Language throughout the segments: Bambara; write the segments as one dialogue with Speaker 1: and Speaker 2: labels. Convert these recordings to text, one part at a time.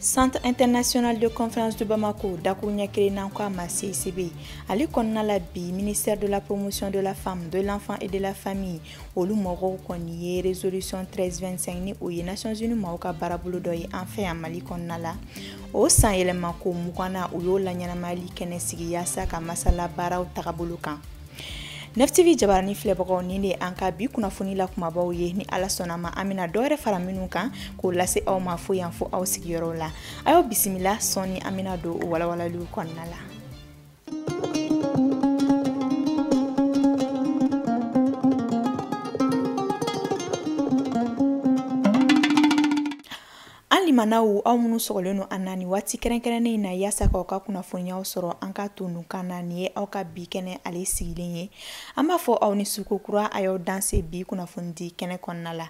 Speaker 1: centre international de conférence de Bamako dakurunya kɛlen n'an ko a ma CICB ale kɔnɔna la bi ministère de la promotion de la femme de l'enfant et de la famille olu mɔgɔw kɔni ye resolution 1325 ni o ye nations unies mɔgɔw ka baarabolo dɔ ye an fɛ yan mali kɔnɔna la o san yɛlɛma ko mugannan u y'o laɲɛnamayali kɛnɛ sigi yaasa ka masala baaraw tagabolo kan 9TV jabarani filɛbagaw nin de an ka bi kunnafoni la kumabaw ye ni ala sɔnn'a ma an bɛna dɔ wɛrɛ fara minw kan k'o lase aw ma fo yan fo aw sigiyɔrɔw la a y'aw bisimila sɔɔni an bɛna don o walawalaliw kɔnɔna la limanaw aw minnu sɔgɔlen don an na nin waati kɛrɛnkɛrɛnnen in na yaasa k'aw ka kunnafoniyaw sɔrɔ an ka to nun kan na nin ye aw ka bi kɛnɛ ale sigilen ye an b'a fɔ aw ni su kokura a y'aw danse bi kunnafoni di kɛnɛ kɔnɔna la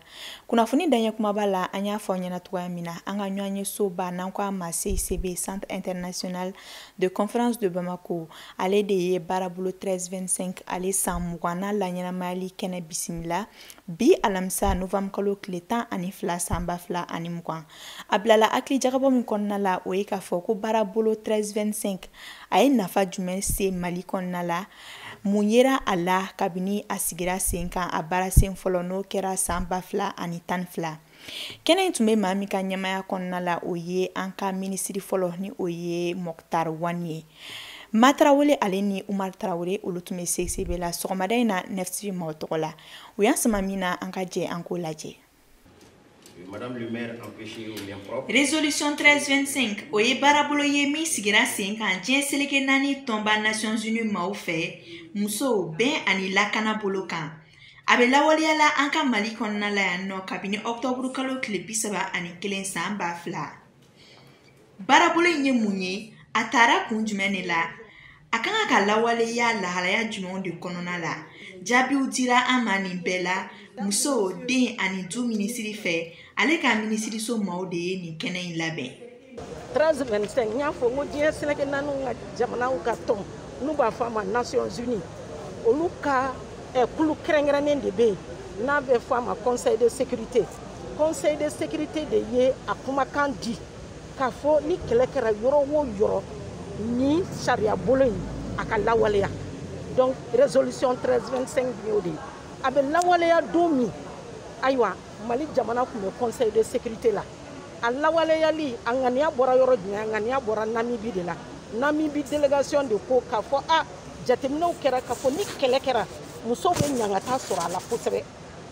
Speaker 1: kunnafoni daɲɛ kumaba la an y'a fɔ aw ɲɛ na cogoya min na an ka ɲɔgɔn ye soba n'an ko a ma CICB centre international de conférence de Bamako ale de ye baarabolo 1325 ale san mugannan laɲɛnamayali kɛnɛ bisimila bi alamisa novembre kalo tile tan ani fila san ba fila ani mugan a bilala hakili jagabɔ min kɔnɔna la o ye k'a fɔ ko baarabolo 1325 a ye nafa jumɛn se mali kɔnɔna la mun yera a la kabini a sigira sen kan a baarasen fɔlɔ n'o kɛra san ba fila ani tan ni fila kɛnɛ in tun bɛ maa min ka ɲɛmaaya kɔnɔna la o ye an ka minisiri fɔlɔ ni o ye Moctar Ouane ye ma tarawele ale ni umar tarawele olu tun bɛ CICB la sɔgɔmada in na 9TV maaw tɔgɔ la u y'an sama min na an ka jɛ an k'o
Speaker 2: lajɛ Résolution
Speaker 1: 1325 o ye baarabolo ye min sigira sen kan diɲɛ seleke naani tɔnba Nations Unies maaw fɛ musow bɛn ani lakana bolo kan a bɛ lawaleya la an ka mali kɔnɔna la yan nɔ kabini ɔktɔburu kalo tile bi saba ani kelen san ba fila baarabolo in ye mun ye a tara kun jumɛn de la a ka kan ka lawaleya lahalaya jumɛnw de kɔnɔna la jaabiw dira an ma nin bɛɛ la muso den ani du minisiri fɛ ale ka minisiriso maaw de ye nin kɛnɛ in labɛn 13
Speaker 3: 25 n y'a fɔ n ko diɲɛ seleke naaniw ka jamanaw ka tɔn n'u b'a fɔ a ma nations unies olu ka eh, kulu kɛrɛnkɛrɛnnen de bɛ yen n'a bɛ fɔ a ma conseil de sécurité conseil de sécurité de ye a kumakan di k'a fɔ ni kɛlɛ kɛra yɔrɔ o yɔrɔ nin sariya bolo in a ka lawaleya donc résolution 13 25 bi y'o de ye a bɛ lawaleya don min ayiwa mali jamana tun bɛ conseil de sécurité la a lawaleyali a ŋaniya bɔra yɔrɔ jumɛn a ŋaniya bɔra namibi de la namibi delegation de ko k'a fɔ a jateminɛw kɛra k'a fɔ ni kɛlɛ kɛra musow bɛ ɲangata sɔrɔ a la kosɛbɛ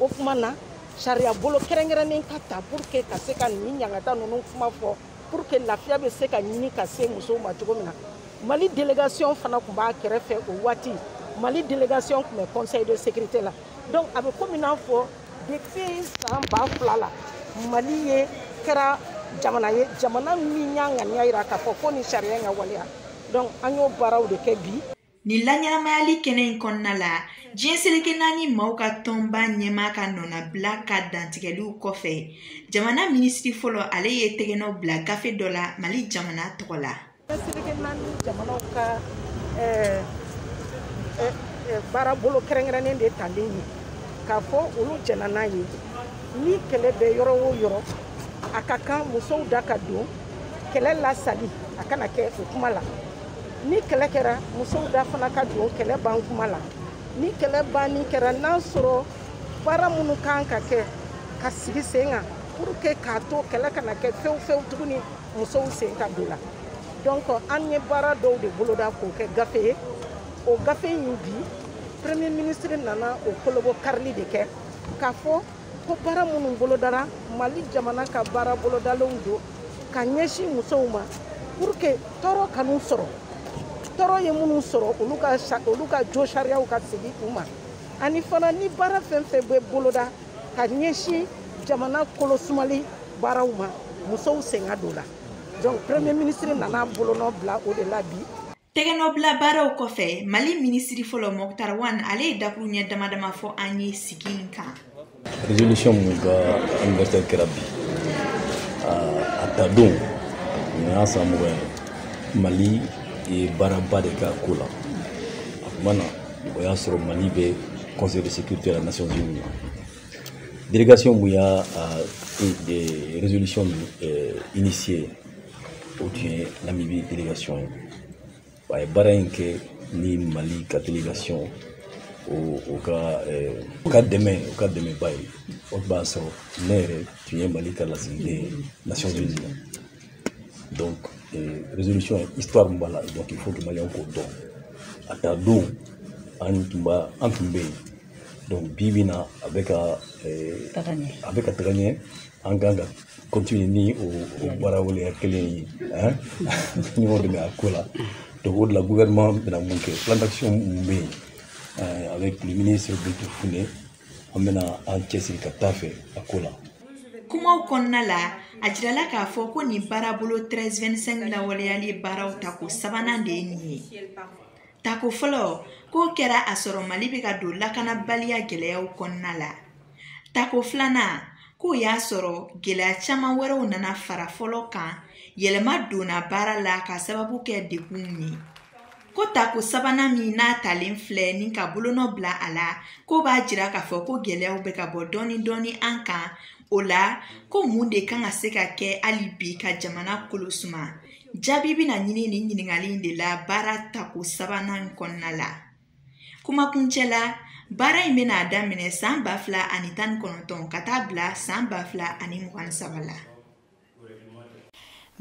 Speaker 3: o kuma na sariya bolo kɛrɛnkɛrɛnnen ka ta pour que ka se ka nin ɲangata ninnu kuma fɔ pour que lafiya bɛ se ka ɲini ka se musow ma cogo min na mali delegation fana tun b'a kɛrɛfɛ o waati mali delegation tun bɛ conseil de sécurité la donc a bɛ komi n'a fɔ depuis san ba fila la mali ye kɛra jamana ye jamana min y'a ŋaniya yira k'a fɔ ko nin sariya in ka waleya donc an y'o baaraw de kɛ bi nin laɲɛnamayali
Speaker 1: kɛnɛ in kɔnɔna la diɲɛ seleke naani maaw ka tɔnba ɲɛmaa ka nɔnabila ka dantigɛliw kɔfɛ jamana minisiri fɔlɔ ale ye tɛgɛnɔ bila gafe dɔ la mali jamana tɔgɔ la seleke
Speaker 3: naani jamanaw ka baara bolo kɛrɛnkɛrɛnnen de talen ye k'a fɔ olu jɛnna n'a ye ni kɛlɛ bɛ yɔrɔ o yɔrɔ a ka kan musow da ka don kɛlɛ lasali a kana kɛ o kuma la ni kɛlɛ kɛra musow da fana ka don kɛlɛ ban kuma la ni kɛlɛ banni kɛra n'a sɔrɔ baara minnu kan ka kɛ ka sigi sen kan pour que k'a to kɛlɛ kana kɛ fewu fewu tuguni musow sen ka don la donc an ye baara dɔw de boloda k'o kɛ gafe ye o gafe in bi premier ministre nana o kolobo karili de kɛ k'a fɔ ko baara minnu bolodara mali jamana ka baara bolodalenw don ka ɲɛsin musow ma pour que tɔɔrɔ kan'u sɔrɔ tɔɔrɔ ye minnu sɔrɔ olu ka olu ka josariyaw ka segin u ma ani fana ni baara fɛn fɛn bɛ boloda ka ɲɛsin jamana kolosumali baaraw ma musow sen ka don la donc premier ministre nana bolonɔ bila o de la bi tɛgɛnɔbila baaraw
Speaker 1: kɔfɛ mali minisiri fɔlɔ mɔktar wan ale ye dakuruɲɛ dama dama fɔ an ye sigi in kan
Speaker 4: résolution min ka anniversaire kɛra bi a ta don nin y'a san mugan ye mali ye baaraba de k'a ko la a tuma na o y'a sɔrɔ mali bɛ conseil de sécurité la nations unies délégation min y'a e, résolution nin e, initié o tun ye namibi délégation ye a ye baara in kɛ ni mali ka délégation o o ka eh, o ka dɛmɛ o ka dɛmɛba ye o b'a sɔrɔ ne yɛrɛ tun ye mali ka lasigiden ye nations unies la donc euh, résolution histoire min b'a la donc il faut que maliyɛnw k'o dɔn a ta don an tun b'a an tun bɛ yen donc bi bi na a bɛ ka a bɛ ka taga ɲɛ an kan ka continuer ni o baara waleya kelen ye ɲɔgɔn dɛmɛ a ko la donc o de la gouvernement bɛna min kɛ plan d'action min bɛ yen avec le ministre Bintu Fune an bɛna an cɛsiri ka taa fɛ a ko la kumaw kɔnɔna
Speaker 1: la a jirala k'a fɔ ko nin baarabolo 1325 lawaleyali baaraw tako sabanan de ye nin ye tako fɔlɔ k'o kɛra a sɔrɔ mali bɛ ka don lakanabaliya gɛlɛyaw kɔnɔna la tako filanan k'o y'a sɔrɔ gɛlɛya caman wɛrɛw nana fara fɔlɔ kan yɛlɛma donna baara la ka sababu kɛ degun ye ko tako sabanan min n'a talen filɛ ni ka bolonɔ bila a la ko b'a jira k'a fɔ ko gɛlɛyaw bɛ ka bɔ dɔɔni dɔɔni an kan o la ko mun de kan ka se ka kɛ hali bi ka jamana kolo suma jaabi bɛna ɲini nin ɲininkali in de la baara tako sabanan in kɔnɔna la kumakuncɛ la baara in bɛna daminɛ san ba fila ani tan ni kɔnɔntɔn ka taa bila san ba fila ani mugan ni saba la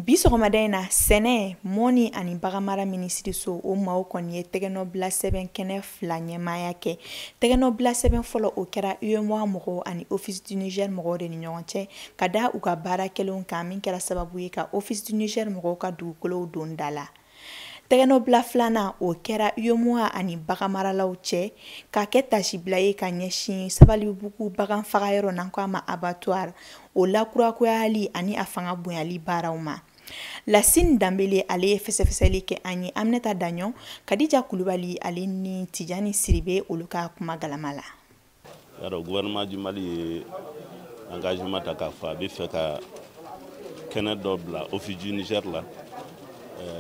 Speaker 1: bi sɔgɔmada in na sɛnɛ mɔni ani baganmara minisiriso o maaw kɔni ye tɛgɛnɔbila sɛbɛn kɛnɛ fila ɲɛmaaya kɛ tɛgɛnɔbila sɛbɛn fɔlɔ o kɛra uemoa mɔgɔw ani office du niger mɔgɔw de ni ɲɔgɔn cɛ ka da u ka baara kɛlenw kan min kɛra sababu ye ka office du niger mɔgɔw ka dugukolow don da la Tɛgɛnɔbila filanan o kɛra UEMOA ani bagan maralaw cɛ ka kɛ tasibila ye ka ɲɛsin Sabalibugu bagan fagayɔrɔ n'an ko a ma abattoir o lakurakurayali ani a fanga bonyali baaraw ma. Lasine Danbele ale ye fɛsɛfɛsɛli kɛ an ye Aminata Daɲɔn, Kadija Kulubali ale ni Tijani Siribe olu ka kuma galama la. y'a
Speaker 5: dɔn gouvernement du mali ye engagement ta k'a fɔ a bɛ fɛ ka kɛnɛ dɔ bila office du niger la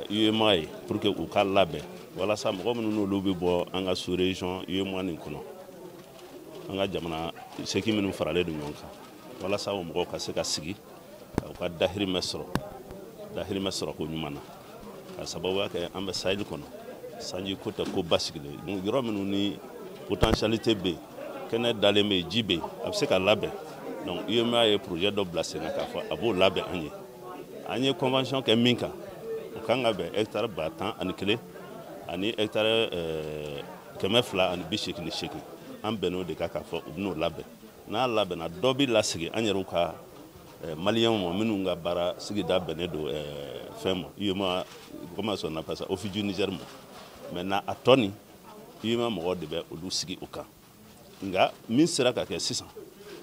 Speaker 5: uemoa euh, ye pour que u ka labɛn walasa mɔgɔ minnu n'olu bɛ bɔ an ka sous région uemoa nin kɔnɔ an ka jamana seki minnu faralen don ɲɔgɔn kan walasa o mɔgɔw ka se ka sigi ka u ka dahirimɛ sɔrɔ dahirimɛ sɔrɔ ko ɲuman na ka sababuya kɛ an bɛ saheli kɔnɔ sanji ko tɛ ko basigilen yɔrɔ minnu ni potentialité bɛ yen kɛnɛ dalen bɛ yen ji bɛ yen a bɛ se ka labɛn donc UEMOA ye projet dɔ bila sen kan k'a fɔ a b'o labɛn an ye an ye convention kɛ min kan o kan ka bɛn hectare ba tan ani kelen ani hectare eh, kɛmɛ fila ani bi seegin ni seegin an bɛnn'o de kan k'a fɔ u bɛn'o labɛn n'a labɛnna dɔ bɛ lasegin an yɛrɛw ka eh, maliyɛnw ma minnu ka baara sigida bɛnnen don eh, fɛn ma uemoa comment on appelle ça office du niger ma maintenant a tɔ nin uemoa mɔgɔw de bɛ olu sigi o kan nka min sera ka kɛ sisan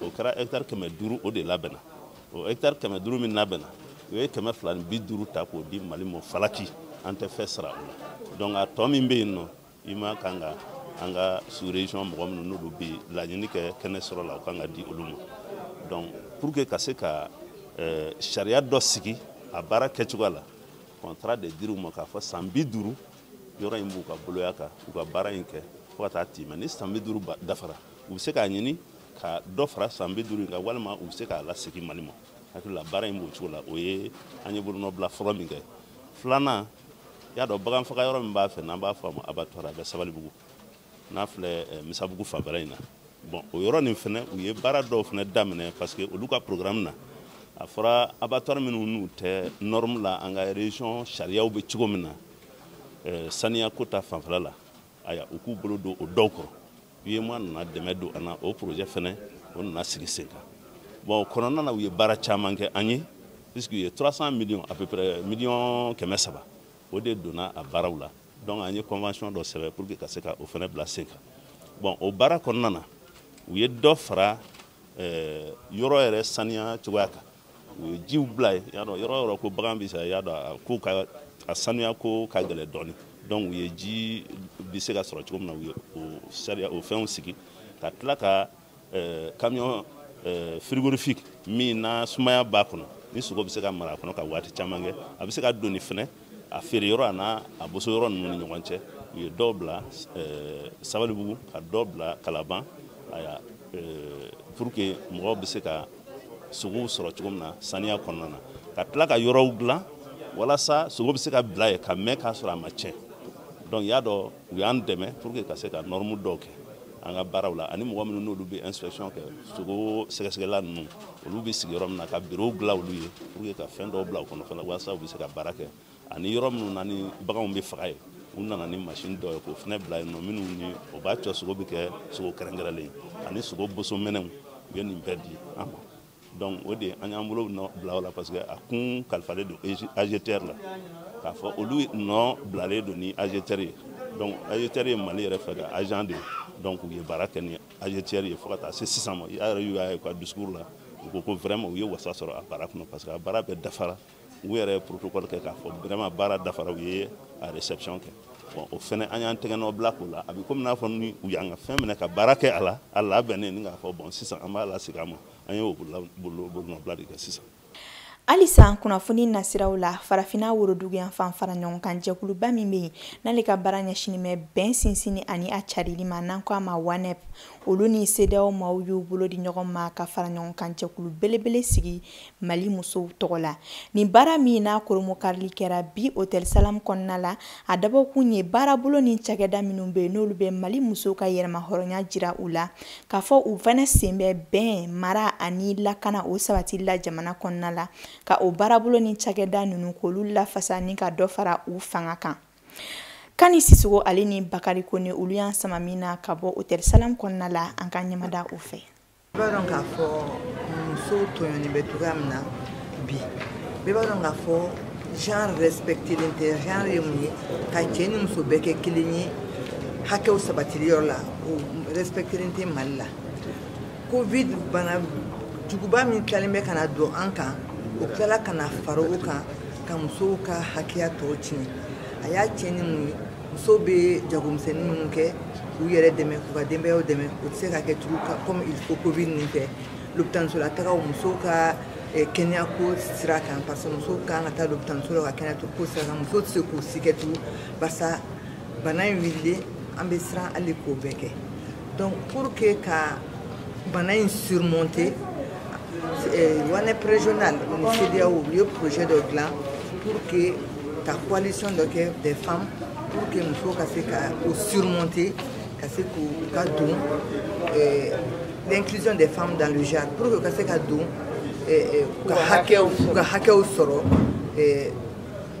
Speaker 5: o kɛra hɛktari kɛmɛ duuru o de labɛnna o hɛktari kɛmɛ duuru min labɛnna u ye kɛmɛ fila ni bi duuru ta k'o di mali ma falaki an tɛ fɛn sara o la donc a tɔ min bɛ yen nɔ UEMOA kan ka an ka sous région mɔgɔ minnu n'olu bɛ laɲini kɛ kɛnɛ sɔrɔ la o kan ka di olu ma donc pour que ka se ka euh, sariya dɔ sigi a baara kɛcogoya la contrat de dir'u ma k'a fɔ san bi duuru yɔrɔ in b'u ka boloya kan u ka baara in kɛ fo ka taa tɛmɛ ni san bi duuru dafara u bɛ se k'a ɲini ka dɔ fara san bi duuru in kan walima u bɛ se k'a lasegin mali ma hakili la baara in b'o cogo la o ye an ye bolonɔbila fɔlɔ min kɛ filanan y'a dɔn bagan faga yɔrɔ min b'a fɛ n'an b'a fɔ a ma abattoir a bɛ sabalibugu n'a filɛ eh, misabugu fanfɛla in na bon o yɔrɔ nin fɛnɛ u ye baara dɔw fɛnɛ daminɛ parce que olu ka programme na a fɔra abattoir minnu n'u tɛ norme la an ka région sariyaw bɛ cogo min na eh, saniya ko ta fanfɛla la aya u k'u bolo don o dɔw kɔrɔ UEMOA nana dɛmɛ don an na o projet fɛnɛ o nana sigi sen kan bon kɔnɔna na u ye baara caman kɛ an ye puisque u ye 300 millions à peu près millions kɛmɛ saba o de donna a baaraw la donc an ye convention dɔ sɛbɛn pour que ka se ka o fɛnɛ bila sen kan bon o baara kɔnɔna na u ye dɔ fara eh, yɔrɔ yɛrɛ saniya cogoya kan u ye jiw bila yen y'a dɔn yɔrɔ yɔrɔ ko bagan bɛ sa y'a dɔn a ko ka a sanuya ko ka gɛlɛn dɔɔni donc u ye ji bɛ se ka sɔrɔ cogo min na u ye o sariya o fɛnw sigi ka tila ka euh, camion euh, frigorifique min na sumaya b'a kɔnɔ ni sogo bɛ se ka mara a kɔnɔ ka waati caman kɛ a bɛ se ka doni fɛnɛ a feere yɔrɔ an'a a boso yɔrɔ ninnu ni ɲɔgɔn cɛ u ye dɔw bila eh, sabalibugu ka dɔw bila kalaban aya eh, pour que mɔgɔw bɛ se ka sogow sɔrɔ cogo min na saniya kɔnɔna na ka tila ka yɔrɔw dilan walasa sogo bɛ se ka bila yen ka mɛn k'a sɔrɔ a ma tiɲɛ donc y'a dɔn u y'an dɛmɛ pour que ka se ka norme dɔw kɛ an ka baaraw la ani mɔgɔ minnu n'olu bɛ inspection kɛ sogo sɛgɛsɛgɛla ninnu olu bɛ sigi yɔrɔ min na ka birow dilan olu ye pour que ka fɛn dɔw bila u kɔnɔ fana walasa u bɛ se ka baara kɛ ani yɔrɔ minnu na ni baganw bɛ faga yen u nana ni masini dɔ ye k'o fana bila yen nɔ minnu ni o b'a to sogo bɛ kɛ sogo kɛrɛnkɛrɛnlen ye ani sogo boso minɛnw u ye nin bɛɛ di an ma donc o de an y'an bolo nɔ bila o la parce que a kun kalifalen don AGETIER la k'a fɔ olu nɔ bilalen don ni AGETIER ye donc AGETIER ye Mali yɛrɛ fɛ ka agence de ye donc u ye baara kɛ ni AGETIER ye fo ka taa se sisan ma a yɛrɛ y'u y'a ye u ka discours la u ko ko vraiment u ye wasa sɔrɔ a baara kɔnɔ parce que a baara bɛɛ dafara u yɛrɛ ye protocole kɛ k'a fɔ vraiment baara dafara u ye a réception kɛ bon o fɛnɛ an y'an tɛgɛ nɔ bila k'o la a bɛ komi n'a fɔ ni u y'an ka fɛn minɛ ka baara kɛ a la a labɛnnen ni k'a fɔ bon sisan an b'a lasegin a ma an y'o bolonɔbila de kɛ sisan
Speaker 1: halisa kunnafoni nasiraw la farafinna worodugu yanfan fara ɲɔgɔn kan jɛkuluba min bɛ yen n'ale ka baara ɲɛsinnen bɛ bɛn sinsinni ani a carili ma n'an ko a ma WANEP olu ni CEDEAO maaw y'u bolo di ɲɔgɔn ma ka fara ɲɔgɔn kan jɛkulu belebele sigi Mali musow tɔgɔ la nin baara min n'a koromokarili kɛra bi hôtel salam kɔnɔna la a dabɔkun ye baarabolo ni cakɛda minnu bɛ yen n'olu bɛ mali musow ka yɛrɛma hɔrɔnya jira u la k'a fɔ u fana sen bɛ bɛn mara ani lakana o sabatili la jamana kɔnɔna la ka o baarabolo ni cakɛda ninnu k'olu lafasa ni ka dɔ fara u fanga kan kani sisogo ale ni bakari kone olu y'an sama min na ka bɔ hôtel salam kɔnɔna la an ka ɲɛmada u fɛ bɛɛ b'a dɔn k'a
Speaker 6: fɔ musow tɔɲɔni bɛ cogoya min na bi bɛɛ b'a dɔn k'a fɔ genre respectelen tɛ genre ye mun ye ka cɛ ni muso bɛɛ kɛ kelen ye hakɛw sabatili yɔrɔ la o respectelen tɛ mali la covid bana juguba min tilalen bɛ ka na don an kan o tilala ka na fara o kan ka musow ka hakɛya tɔw tiɲɛ a y'a tiɲɛ ni mun ye musow bɛ jagomisɛnnin minnu kɛ k'u yɛrɛ dɛmɛ k'u ka denbayaw dɛmɛ o tɛ se ka kɛ tugu comme il faut covid nin fɛ lopitanisola tagaw musow ka eh, kɛnɛya ko sira kan parce que musow ka kan ka taa lopitaniso la ka kɛnɛya ko sira kan musow tɛ se k'o si kɛ tugu barisa bana in wililen an bɛ siran hali k'o bɛɛ kɛ donc pour que ka bana in surmonter eh, wanep régional ni CEDEAO u ye projet dɔ dilan pour que ka coalition dɔ kɛ des femmes pour que musow ka se ka o surmonter ka se k'u ka don eh, l'inclusion des femmes dans le genre pour que u ka se ka don eh, u ka hakɛw u ka hakɛw sɔrɔ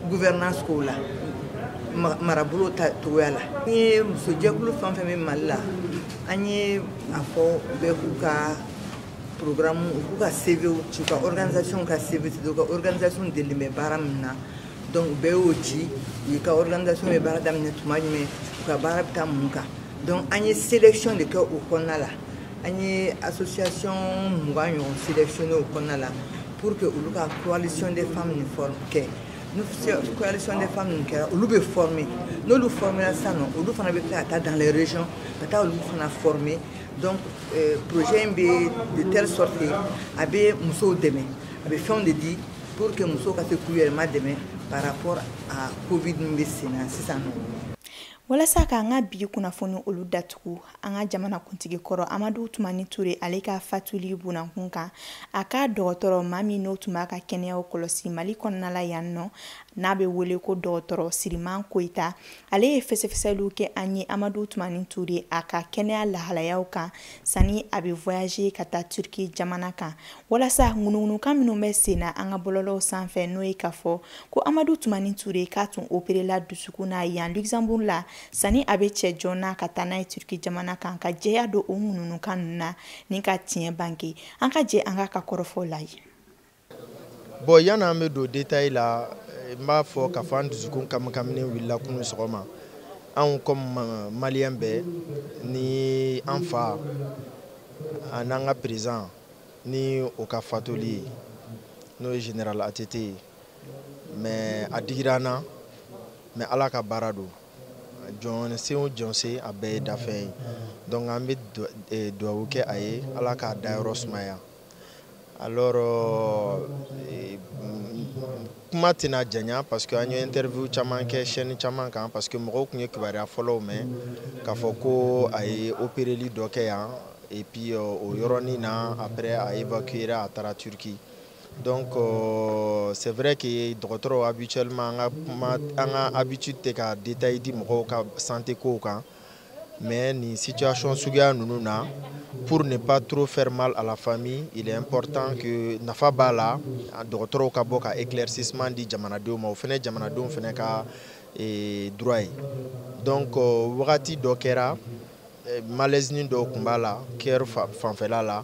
Speaker 6: gouvernance kow la marabolo cogoya la an ye musojɛkulu fɛn fɛn bɛ mali la an ye a fɔ bɛɛ k'u ka programme u k'u ka cvw ci u ka organisation ka cv u ka organisation delilen bɛ baara min na donc u bɛɛ y'o ci u ka organisation bɛ baara daminɛ tuma jumɛn u ka baara bɛ taa mun kan donc an ye sélection de kɛ o kɔnɔna la an ye association mugan ɲɔgɔn sélectionné o kɔnɔna la pour que olu ka coalition des femmes nin forme kɛ ni coalition des femmes nin kɛra olu bɛ former n'olu formera sisan nɔ olu fana bɛ tila ka taa dans les régions ka taa olu fana former donc euh, projet in bɛ de telle sorte que a bɛ musow dɛmɛ a bɛ fɛnw de di pour que musow ka se k'u yɛrɛ madɛmɛ par rapport à covid min bɛ sen na sisan nɔ. walasa
Speaker 1: k'an ka bi kunnafoni olu datugu an ka jamana kuntigi kɔrɔ amadu tumani ture ale ka fatuli bonankun kan a ka dɔgɔtɔrɔ maa min n'o tun b'a ka kɛnɛyaw kɔlɔsi mali kɔnɔna la yan nɔ n'a bɛ wele ko dɔgɔtɔrɔ siriman koyita ale ye fɛsɛfɛsɛliw kɛ an ye amadu tumani ture a ka kɛnɛya lahalayaw kan sani a bɛ voyager ka taa turki jamana kan walasa ŋunuŋunukan minnu bɛ sen na an ka bɔlɔlɔw sanfɛ n'o ye k'a fɔ ko amadu tumani ture k'a tun operela dusukun na yan luxembourg la sani a bɛ cɛ joona ka taa n'a ye turki jamana kan ka jɛya don o ŋunuŋunukan ninnu na ni ka tiɲɛ bange an ka jɛ an k'a ka kɔrɔfɔ lajɛ
Speaker 7: bon yanni an bɛ don détail la eh, n b'a fɔ k'a fɔ an dusukun kamikaminen wulila kunu sɔgɔma anw comme eh, malien bɛɛ ni an fa an'an ka président ni o ka fatuli ye n'o ye général ATT ye mais a digira an na mais ala ka baara don jɔn sen o jɔn sen a bɛɛ ye danfɛn ye donc an bɛ eh, duwawu kɛ a ye ala k'a dayɔrɔ sumaya alors eh, kuma tɛna janya parce que an ye interview caman kɛ chaîne caman kan parce que mɔgɔw kun ye kibaruya fɔlɔw mɛn k'a fɔ ko a ye opereli dɔ kɛ yan et puis euh, o yɔrɔnin na après a évacuera a taara turki donc euh, c'est vrai que dɔgɔtɔrɔw habituellement an ka habitude tɛ ka détail di mɔgɔw ka santé kow kan mais nin situation suguya ninnu na pour ne pas trop faire mal à la famille il est important que nafa b'a la dɔgɔtɔrɔw ka bɔ ka éclaircissement di jamanadenw ma o fɛnɛ jamanadenw fɛnɛ ka eh, droit ye donc euh, wagati dɔ kɛra eh, malaisenin dɔw kun b'a la cœur fanfɛla la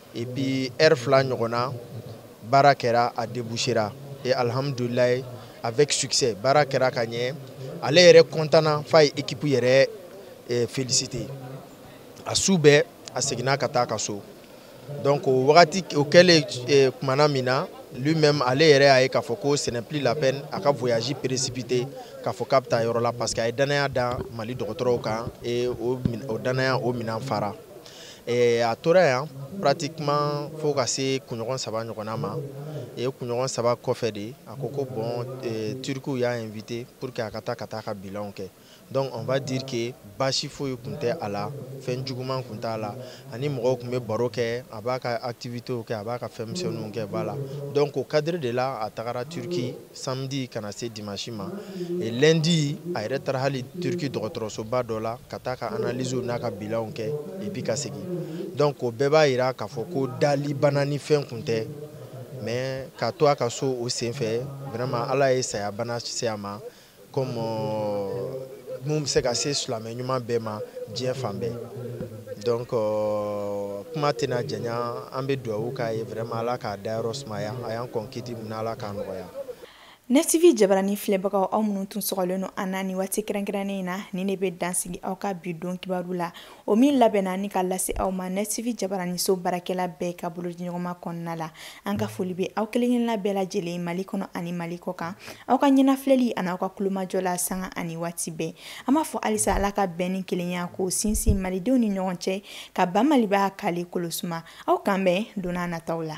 Speaker 7: et puis heure fila ɲɔgɔnna baara kɛra a débouchera et alhamdulilayi avec succès baara kɛra ka ɲɛ ale yɛrɛ kɔntanna f'a ye équipe yɛrɛ eh, félicité a su bɛɛ a seginna ka taa ka so donc o wagati o kɛlen eh, kumana min na lui-même ale yɛrɛ y'a ye k'a fɔ ko ce n'est plus la peine a ka voyage précipité k'a fɔ k'a bɛ taa yɔrɔ la parce que a ye danaya da mali dɔgɔtɔrɔw kan et o danaya o minɛn fara Eh, a tora yan pratiquement fo ka se kunɲɔgɔn saba ɲɔgɔnna ma et kunɲɔgɔn saba kɔfɛ de a ko ko bon eh, turkiw y'a invité pour que a ka taa ka taa ka bilanw kɛ donc on va dire que baasi foyi kun tɛ a la fɛn juguman kun t'a la ani mɔgɔw kun bɛ baro kɛ a b'a ka activitéw kɛ a b'a ka fɛn misɛnninw kɛ voilà donc o cadre de la a tagara turki samedi ka na se dimanche ma et lundi a yɛrɛ taara hali turki dɔgɔtɔrɔsoba dɔ la ka taa ka analysew n'a ka bilanw kɛ et puis ka segin donc o bɛɛ b'a yira k'a fɔ ko dali bana ni fɛn kun tɛ mais ka to a ka so o sen fɛ vraiment ala ye saya bana se a ma comme min bɛ se ka se silamɛ ɲuman bɛɛ ma diɲɛ fan bɛɛ donc kuma tɛna janya an bɛ dugawu k'a ye vraiment ala k'a dayɔrɔ sumaya a y'an kɔn kiti min na ala k'a nɔgɔya Net
Speaker 1: TV jabaranin filɛbagaw aw minnu tun sɔgɔlen don an na ni waati kɛrɛnkɛrɛnnen in na nin de bɛ dansigi aw ka bi don kibaru la o min labɛnna ni ka lase aw ma nɛtivi jabaraniso baarakɛla bɛɛ ka bolodiɲɔgɔnma kɔnɔna la an ka foli bɛ aw kelenkelenna bɛɛ lajɛlen mali kɔnɔ ani mali kɔ kan aw ka ɲɛnafilɛli ani aw ka tulomajɔ la sanga ani waati bɛɛ an b'a fɔ halisa ala ka bɛn ni kelenya ko sinsin malidenw ni ɲɔgɔn cɛ ka ban maliba kale kolosuma aw k'an bɛn donna nataw la